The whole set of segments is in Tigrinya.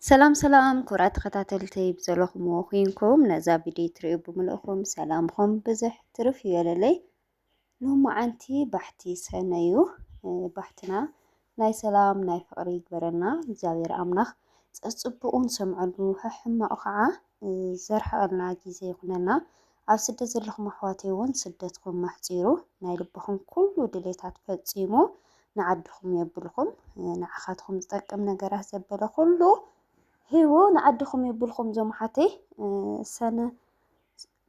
ሰላም ሰላም ክቡራት ተኸታተልተይ ብዘለኹምዎ ኩንኩም ነዛ ቪድዮ ትሪኡ ብምልእኹም ሰላምኹም ብዝሕ ትርፍ ይበለለይ። ሎማዓንቲ ባሕቲ ሰነ እዩ ባሕትና ናይ ሰላም ናይ ፍቕሪ ይግበረና እግዚኣብሔር ኣምላኽ ፀፅቡቑ ንሰምዐሉ ሕሕማቑ ከዓ ዘርሕቐልና ግዜ ይኹነና። ኣብ ስደት ዘለኹም ኣሕዋተይ እውን ስደትኩም ኣሕፂሩ ናይ ልብኹም ኩሉ ድሌታት ፈፂሙ ንዓድኹም የብልኹም ንዓኻትኹም ዝጠቅም ነገራት ዘበለ ኩሉ ሂቡ ንዓድኹም የብልኹም እዞም ኣሓተይ ሰነ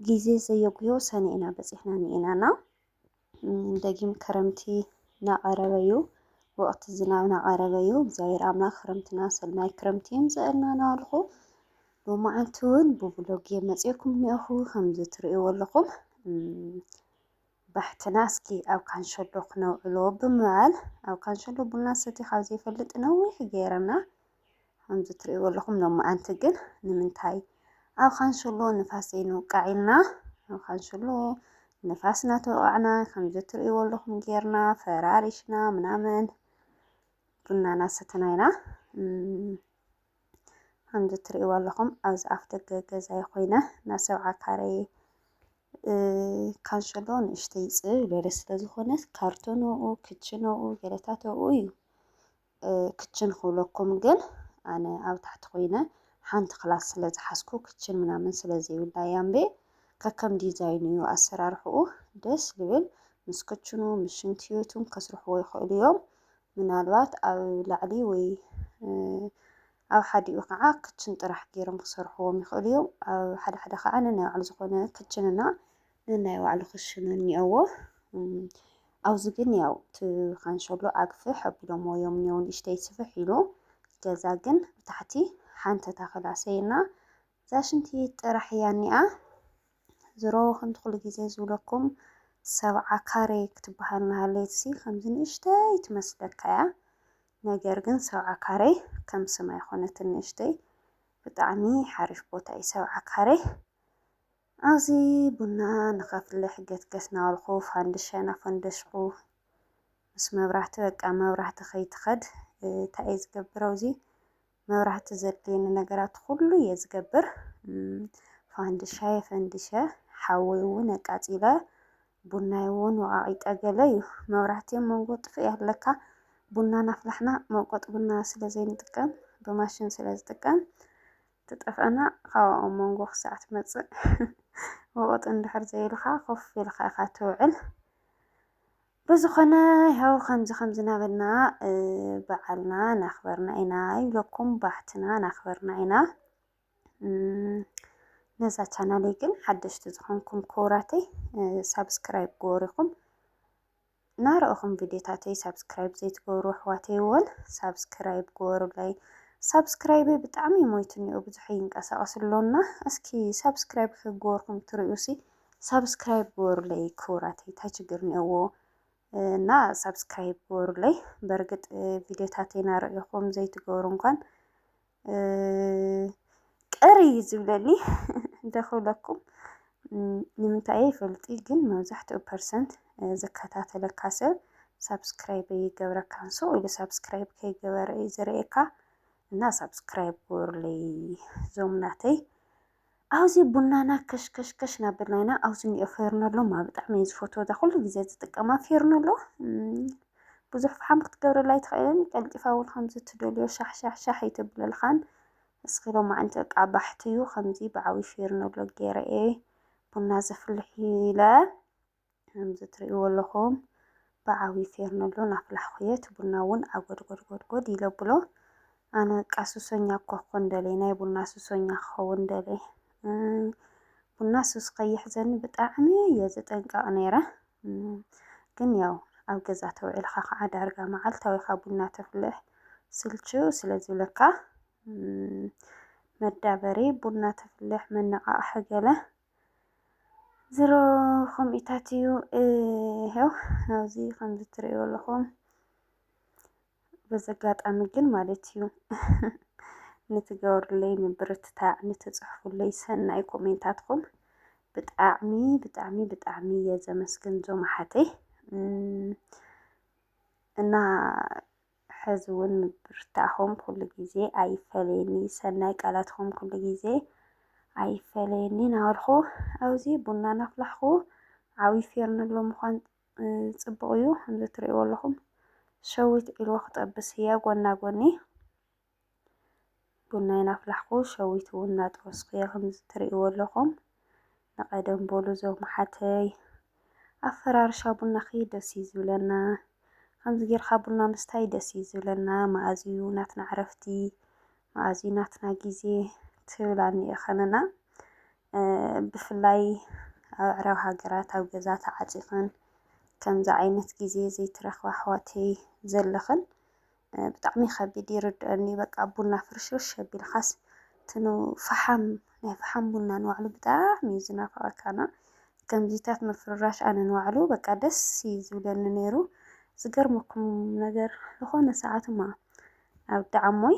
ግዜ ዘየጉዮ ሰነ ኢና በፂሕና ንኢናና ደጊም ክረምቲ ናቐረበዩ ወቕቲ ዝናብ ናቐረበዩ እግዚኣብሔር ኣምላኽ ክረምትና ሰናይ ክረምቲ የምፀእልና ናበልኹ ሎማዓንቲ እውን ብብሎጌ መፅኤኩም እኒኦኹ ከምዚ ትርእይዎ ኣለኹም ባሕትና እስኪ ኣብ ካንሸሎ ክነውዕሎ ብምባል ኣብ ካንሸሎ ቡና ሰቲ ካብ ዘይፈልጥ ነዊሕ ገይረና ከምዚ ትርእይዎ ኣለኹም ሎማዓንቲ ግን ንምንታይ ኣብ ካንሽሎ ንፋስ ዘይንውቃዕ ኢልና ኣብ ካንሽሎ ንፋስ እናተወቃዕና ከምዚ ትርእይዎ ኣለኹም ጌርና ፈራሪሽና ምናምን ቡና እናሰተና ኢና ከምዚ ትርእይዎ ኣለኹም ኣብዚ ኣፍ ደገ ገዛይ ኮይነ ናብ ሰብዓ ካሬ ካንሸሎ ንእሽተይ ፅብ ዝበለ ስለዝኾነ ካርቶን ኣብኡ ክችን ኣብኡ ገለታት ኣብኡ እዩ ክችን ክብለኩም ግን ኣነ ኣብ ታሕቲ ኮይነ ሓንቲ ክላስ ስለ ዝሓዝኩ ክችን ምናምን ስለ ዘይብላ ያምቤ ከከም ዲዛይኑ እዩ ኣሰራርሕኡ ደስ ዝብል ምስ ክችኑ ምስ ሽንትዮቱን ከስርሕዎ ይኽእሉ እዮም ምናልባት ኣብ ላዕሊ ወይ ኣብ ሓዲኡ ከዓ ክችን ጥራሕ ገይሮም ክሰርሕዎም ይኽእሉ እዮም ኣብ ሓደ ሓደ ከዓ ነናይ ባዕሉ ዝኾነ ክችንና ነናይ ባዕሉ ክሽኑ እኒኦዎ ኣብዚ ግን ያው እቲ ካንሸሎ ኣግፍሕ ኣቢሎሞ እዮም እኒኦው ንእሽተይ ስፍሕ ኢሉ ገዛ ግን ብታሕቲ ሓንቲ ታኽል ኣሰይና እዛ ሽንቲ ቤት ጥራሕ እያ እኒኣ ዝሮ ከምቲ ኩሉ ግዜ ዝብለኩም ሰብዓ ካሬ ክትበሃል ናሃለየትሲ ከምዚ ንእሽተይ ትመስለካ እያ ነገር ግን ሰብዓ ካሬ ከም ስማ ይኮነት ንእሽተይ ብጣዕሚ ሓሪፍ ቦታ እዩ ሰብዓ ካሬ ኣብዚ ቡና ንኸፍልሕ ገትገት ናበልኩ ፋንድሻይ ናፈንደሽኩ ምስ መብራህቲ በቃ መብራህቲ ከይትኸድ እንታይ እየ ዝገብር ኣብዚ መብራህቲ ዘድልየኒ ነገራት ኩሉ እየ ዝገብር ፋንድሻይ ፈንዲሸ ሓወይ እውን ኣቃፂለ ቡናይ እውን ወቓቒጠ ገለ እዩ መብራህቲ ኣብ መንጎ ጥፍእ ኣለካ ቡና ናፍላሕና መውቀጢ ቡና ስለ ዘይንጥቀም ብማሽን ስለ ዝጥቀም ትጠፍኣና ካብኣ ኣብ መንጎ ክሳዕ ትመጽእ ወቐጥ እንድሕር ዘይኢልካ ኮፍ ኢልካ ኢኻ ትውዕል። ብዝኾነ ያው ከምዚ ከምዚ ናበልና በዓልና ናኽበርና ኢና ይብለኩም ባሕትና ናኽበርና ኢና። ነዛ ቻናለይ ግን ሓደሽቲ ዝኾንኩም ክቡራተይ ሳብስክራይብ ግበሩ ኢኹም ናረእኹም ቪድዮታተይ ሳብስክራይብ ዘይትገብሩ ኣሕዋተይ ወን ሳብስክራይብ ግበሩለይ ሳብስክራይበይ ብጣዕሚ ሞይቱኒኦ ብዙሕ ይንቀሳቀስ ኣሎና እስኪ ሳብስክራይብ ክግበርኩም ትሪኡሲ ሳብስክራይብ ግበሩለይ ክቡራተይ ታይ ችግር ኒኦዎ እና ሳብስክራይብ ግበሩለይ በርግጥ ቪድዮታተይ ናረእኹም ዘይትገብሩ እንኳን ቅር እዩ ዝብለኒ እንተ ክብለኩም ንምንታይ እየ ኣይፈልጥ ግን መብዛሕትኡ ፐርሰንት ዝከታተለካ ሰብ ሳብስክራይብ ኣይገብረካ ሰው ኢሉ ሳብስክራይብ ከይገበረ እዩ ዝርእየካ እና ሳብስክራይብ ግበሩለይ እዞም ናተይ። ኣብዚ ቡናና ከሽከሽከሽ ናብልና ኢና ኣብዚ እኒኦ ፌርነሎ ማ ብጣዕሚ እየ ዝፈትዎ እዛ ኩሉ ግዜ ዝጥቀማ ፌርነሎ ብዙሕ ፍሓም ክትገብረላ ኣይትኽእልን ቀልጢፋ እውን ከምዚ እትደልዮ ሻሕሻሕሻሕ ኣይተብለልኻን እስኺ ሎማዓንቲ በቃ ባሕቲ እዩ ከምዚ ብዓብዪ ፌርነሎ ገይረ እየ ቡና ዘፍልሕ ኢለ ከምዚ እትርእይዎ ኣለኹም ብዓብዩ ፌርነሎ ናፍላሕኹ'የ፣ እቲ ቡና እውን ዓጎድጎድጎድጎድ ኢለ ኣብሎ። ኣነ በቃ ሱሰኛ እኳ ክኾን ደልየ፣ ናይ ቡና ሱሰኛ ክኸውን ደልየ። ቡና ሱስ ከይሕዘኒ ብጣዕሚ እየ ዝጥንቀቕ ነይረ። ግን ያው ኣብ ገዛ ተውዒልካ ከዓ ዳርጋ መዓልታዊኻ ቡና ተፍልሕ ስልችው ስለ ዝብለካ መዳበሪ ቡና ተፍልሕ መነቓቕሒ ገለ ዝሮ ከምኢታት እዩ ይሄው ኣብዚ ከምዚ ትርእዩ ኣለኹም በዚ ኣጋጣሚ ግን ማለት እዩ ንትገብሩለይ ምብርትታዕ ንትፅሕፉለይ ሰናይ ኮሜንታትኩም ብጣዕሚ ብጣዕሚ ብጣዕሚ እየ ዘመስግን ዞም ኣሓተይ እና ሐዚ እውን ምብርታዕኹም ኩሉ ግዜ ኣይፈለየኒ ሰናይ ቃላትኹም ኩሉ ግዜ ኣይፈለየኒ ናበልኩ ኣብዚ ቡና ናፍላሕኩ ዓብዪ ፌርነሎ ምዃን ፅቡቕ እዩ ከምዚ ትሪእዎ ኣለኹም ሸዊት ዒልዎ ክጠብስ እያ ጎና ጎኒ ቡነይ ናፍላሕኩ ሸዊት እውን ናጠበስኩ እየ ከምዚ ትርእይዎ ኣለኹም ንቀደም በሉ እዞም ኣሓተይ ኣፈራርሻ ቡናኺ ደስ እዩ ዝብለና ከምዚ ጌርካ ቡና ምስታይ ደስ እዩ ዝብለና መኣዝ እዩ ናትና ዕረፍቲ መኣዝ እዩ ናትና ግዜ ትብላኒ እየ ከነና ብፍላይ ኣብ ኣዕራብ ሃገራት ኣብ ገዛ ተዓፂኽን ከምዚ ዓይነት ግዜ ዘይትረኽባ ኣሕዋተይ ዘለኽን ብጣዕሚ ከቢድ ይርድኦኒ በቃ ቡና ፍርሽርሽ ኣቢልካስ ትኑ ፈሓም ናይ ፈሓም ቡና ንባዕሉ ብጣዕሚ እዩ ዝናፍቐካና ከምዚታት ምፍርራሽ ኣነ ንባዕሉ በቃ ደስ እዩ ዝብለኒ ነይሩ ዝገርመኩም ነገር ዝኾነ ሰዓት እማ ኣብ ዳዓሞይ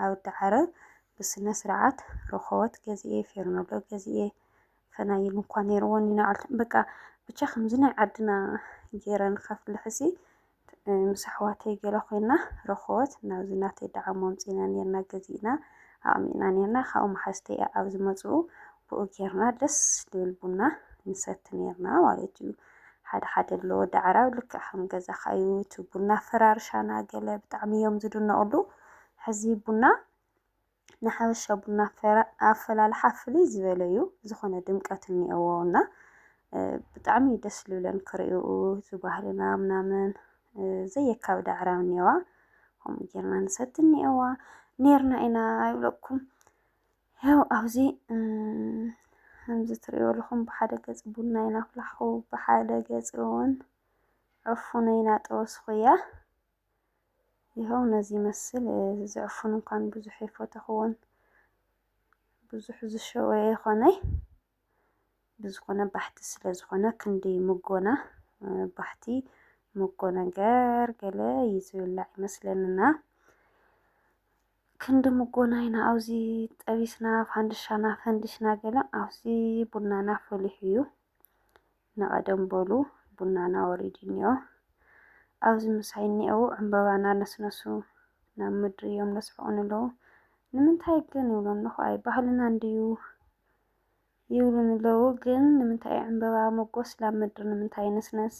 ኣብ ዳዓረ ብስነ ስርዓት ረኸወት ገዝኤ ፌርኖሎ ገዝኤ ፈናይል እንኳ ነይርዎን ይነዓል በቃ ብቻ ከምዚ ናይ ዓድና ገይረን ከፍልሕሲ ምስ ኣሕዋተይ ገለ ኮይና ረኮበት ናብዚ ናተይ ደዓሞ ኣምጺና ኔርና ገዚእና ኣቅሚጥና ኔርና ካብኡ መሓዝተይ ኣብ ዝመጽኡ ብኡ ጌርና ደስ ድብል ቡና ንሰቲ ኔርና ማለት እዩ ሓደ ሓደ ኣሎ ወዲ ዓራብ ልክዕ ከም ገዛኻ እዩ እቲ ቡና ፈራርሻና ገለ ብጣዕሚ እዮም ዝድነቕሉ ሕዚ ቡና ንሓበሻ ቡና ኣፈላልሓ ፍልይ ዝበለ እዩ ዝኾነ ድምቀት እኒኦዎ እና ብጣዕሚ እዩ ደስ ልብለን ክርእኡ እዚ ባህልና ምናምን ዘየካብድ ኣዕራብ እኒኦዋ ከምኡ ጌርና ንሰቲ እኒኦዋ ኔርና ኢና ኣይብለኩም ያው ኣብዚ ከምዚ ትርእዮ ኣለኹም ብሓደ ገፅ ቡና ኢና ኣፍላሕኹ ብሓደ ገፅ እውን ዕፉነ ኢና ጠወስኹ እያ ይሀው ነዚ ይመስል እዚ ዕፉን እንኳን ብዙሕ ኣይፈተኽዎን ብዙሕ ዝሸወ ኣይኾነይ ብዝኾነ ባሕቲ ስለ ዝኾነ ክንዲ ምጎና ባሕቲ ምጎ ነገር ገለ እዩ ዝብላዕ ይመስለንና ክንዲ ምጎና ኢና ኣብዚ ጠቢስና ፋንድሻና ፈንዲሽና ገለ ኣብዚ ቡናና ፈሊሑ እዩ ንቐደም በሉ ቡናና ወሪዱ እኒኦ፣ ኣብዚ ምሳይ እኒአዉ ዕምበባ እናነስነሱ ናብ ምድሪ እዮም ለስሕቑኒ ኣለዉ። ንምንታይ ግን ይብሎም ኣለኹ፣ ኣይ ባህልና እንድዩ ይብሉኒ ኣለዉ። ግን ንምንታይ እዩ ዕምበባ መጎስ ናብ ምድሪ ንምንታይ ይንስነስ?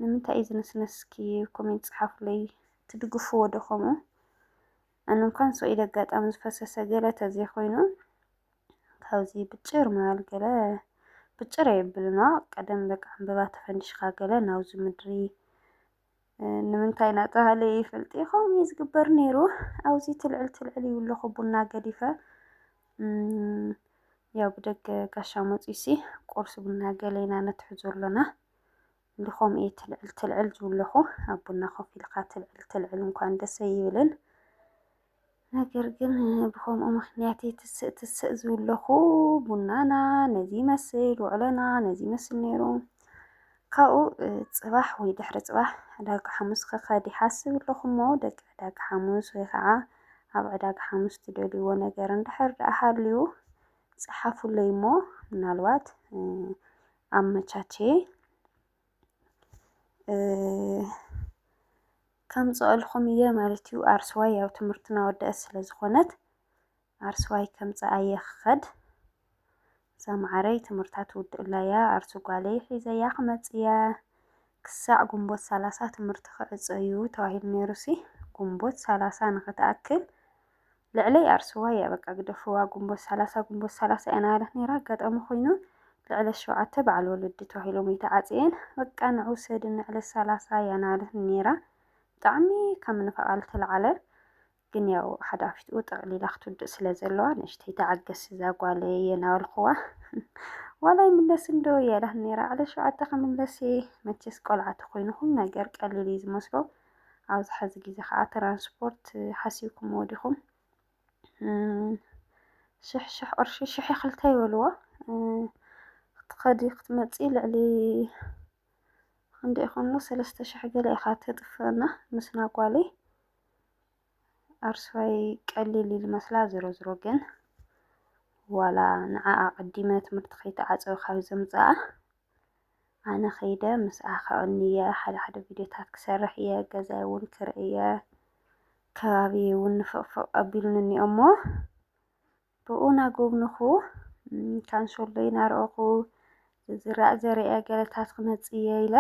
ንምንታይ እዩ ዝንስነስ? እስኪ ኮሜንት ጸሓፉለይ። ትድግፍዎ ዶ ከምኡ? ኣነ እንኳን ሰው ኢደ ኣጋጣሚ ዝፈሰሰ ገለ ተዘይኮይኑ ካብዚ ብጭር ምባል ገለ ብጭር የብልና ቀደም በቃ ዕምበባ ተፈንዲሽካ ገለ ናብዚ ምድሪ ንምንታይ ናተባህለ ይፈልጥ ይኸውን እዩ ዝግበር ነይሩ ኣብዚ ትልዕል ትልዕል ይብለኹ ቡና ገዲፈ ያው ብደገ ጋሻ መፂሲ ቁርሲ ቡና ገለ ኢና ነትሕዞ ኣሎና እንድኾም እየ ትልዕል ትልዕል ዝብለኹ ኣብ ቡና ኮፍ ኢልካ ትልዕል ትልዕል እንኳን ደስ ኣይብልን ነገር ግን ብኸምኡ ምክንያት እየ ትስእ ትስእ ዝብለኹ ቡናና ነዚ ይመስል ውዕሎና ነዚ ይመስል ነይሩ ካብኡ ፅባሕ ወይ ድሕሪ ፅባሕ ዕዳጋ ሓሙስ ክኸድ ይሓስብ ኣለኹ እሞ ደቂ ዕዳጋ ሓሙስ ወይ ከዓ ኣብ ዕዳጋ ሓሙስ ትደልይዎ ነገር እንድሕር ደኣ ሃልዩ ፀሓፉለይ እሞ ምናልባት ኣመቻችየ ከምፅኣልኹም እየ ማለት እዩ። ኣርስዋይ ያው ትምህርትና ወደአት ስለ ዝኾነት ኣርስዋይ ከምፅኣ እየ ክኸድ እዛ መዓረይ ትምህርታ ትውድእላ እያ ኣርሱ ጓለይ ሒዘያ ክመፅእ እያ ክሳዕ ግንቦት ሰላሳ ትምህርቲ ክዕፀ እዩ ተባሂሉ ነይሩሲ ግንቦት ሰላሳ ንኽትኣክል ልዕለይ ኣርሱዋ እያ በቃ ግደፍዋ ግንቦት ሰላሳ ግንቦት ሰላሳ እያ ናበለት ነይራ ኣጋጣሚ ኮይኑ ልዕለ ሸውዓተ በዓል ወለዲ ተባሂሎም ይተዓፅየን በቃ ንዑ ሰድ ንዕለ ሰላሳ እያ ናበለት ነይራ ብጣዕሚ ካብ ምንፋቓል ተለዓለ ግን ያው ሓደ ኣፊትኡ ጠቕሊላ ክትውድእ ስለ ዘለዋ ንእሽተይ ተዓገስ እዛ ጓል እየ ናበልክዋ ዋላ ይምለስ እንዶ እያላት ነይራ ዕለ ሸውዓተ ክምለስ መቸስ ቆልዓ ተኮይኑ ኩሉ ነገር ቀሊል እዩ ዝመስሎ ኣብዚ ሐዚ ግዜ ከዓ ትራንስፖርት ሓሲብኩምዎ ዲኹም? ሽሕ ሽሕ ቅርሺ ሽሕ ክልተ ይበልዎ ክትኸዲ ክትመፂ ልዕሊ ክንደይ ይኾንሉ ሰለስተ ሽሕ ገለ ኢኻ ተጥፍእና ምስ ናጓለይ ኣርሳይ ቀሊል ኢሉ መስላ ዝሮ ዝሮ ግን ዋላ ንዓኣ ቀዲመ ትምህርቲ ከይተዓፀወ ካብ ዘምፅኣ ኣነ ከይደ ምስኣ ከዕኑ እየ ሓደ ሓደ ቪድዮታት ክሰርሕ እየ ገዛይ እውን ክርኢ እየ ከባቢ እውን ንፍቕፍቕ ኣቢሉኒ እኒኦ እሞ ብኡ ናጎብንኹ ካንሶሎ ይናርኦኹ ዝዝራእ ዘርአ ገለታት ክመፅ እየ ኢለ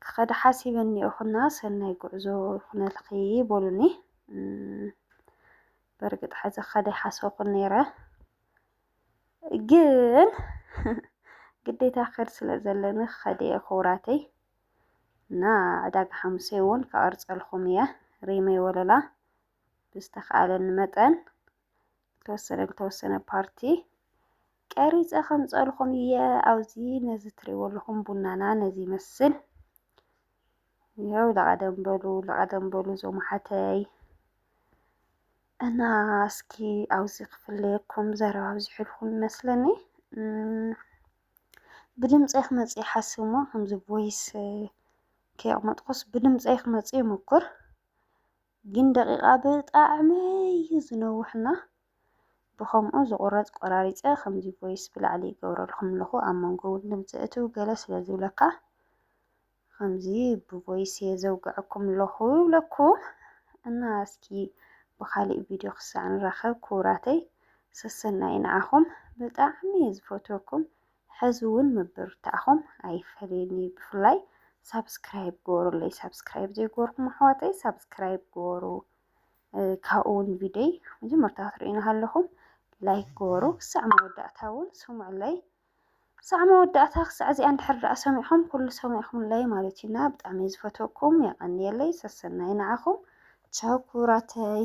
ክኸደ ሓሲበ እኒኦኹና ሰናይ ጉዕዞ ይኹነልኺ በሉኒ በርግጥ ሕዚ ክኸደ ይሓሰኹን ነይረ ግን ግዴታ ክኸድ ስለ ዘለኒ ክኸድ እየ ክቡራተይ እና ዕዳጋ ሓሙሴ እውን ከቐርፀልኩም እየ ሪመይ ወለላ ብዝተኸኣለኒ መጠን ዝተወሰነ ዝተወሰነ ፓርቲ ቀሪፀ ከምፀልኹም እየ ኣብዚ ነዚ ትሪእዎ ኣለኹም ቡናና ነዚ ይመስል ይኸው ለቐደም በሉ ለቐደም በሉ እዞም ሓተይ እና እስኪ ኣብዚ ክፍለየኩም ዘረባ ኣብዚሕልኩም ይመስለኒ ብድምፀይ ክመፅእ ይሓስብ እሞ ከምዚ ቮይስ ከየቕመጥኩስ ብድምፀይ ክመፅእ ይሙኩር ግን ደቂቓ ብጣዕሚ እዩ ዝነውሕና ብከምኡ ዝቑረፅ ቆራሪፀ ከምዚ ቮይስ ብላዕሊ ይገብረልኩም ኣለኹ ኣብ መንጎ እውን ድምፂ እትው ገለ ስለ ዝብለካ ከምዚ ብቮይስየ ዘውግዐኩም ኣለኹ ይብለኩም እና እስኪ ብኻሊእ ቪድዮ ክሳዕ ንራኸብ ክቡራተይ ሰሰናዩ ንዓኹም ብጣዕሚ እየ ዝፈትወኩም ሕዚ እውን ምብርታዕኹም ኣይፈለየኒ ብፍላይ ሳብስክራይብ ግበሩለይ ሳብስክራይብ ዘይገበርኩም ኣሕዋተይ ሳብስክራይብ ግበሩ ካብኡ እውን ቪድዮይ መጀመርታ ክትርእዩና ሃለኹም ላይክ ግበሩ ክሳዕ መወዳእታ እውን ስምዑለይ ክሳዕ መወዳእታ ክሳዕ እዚኣ እንድሕር ደኣ ሰሚዕኹም ኩሉ ሰሚዕኹምለይ ማለትዩና ብጣዕሚ ዝፈትወኩም የቐንየለይ ሰሰናዩ ንዓኹም ቻው ክቡራተይ።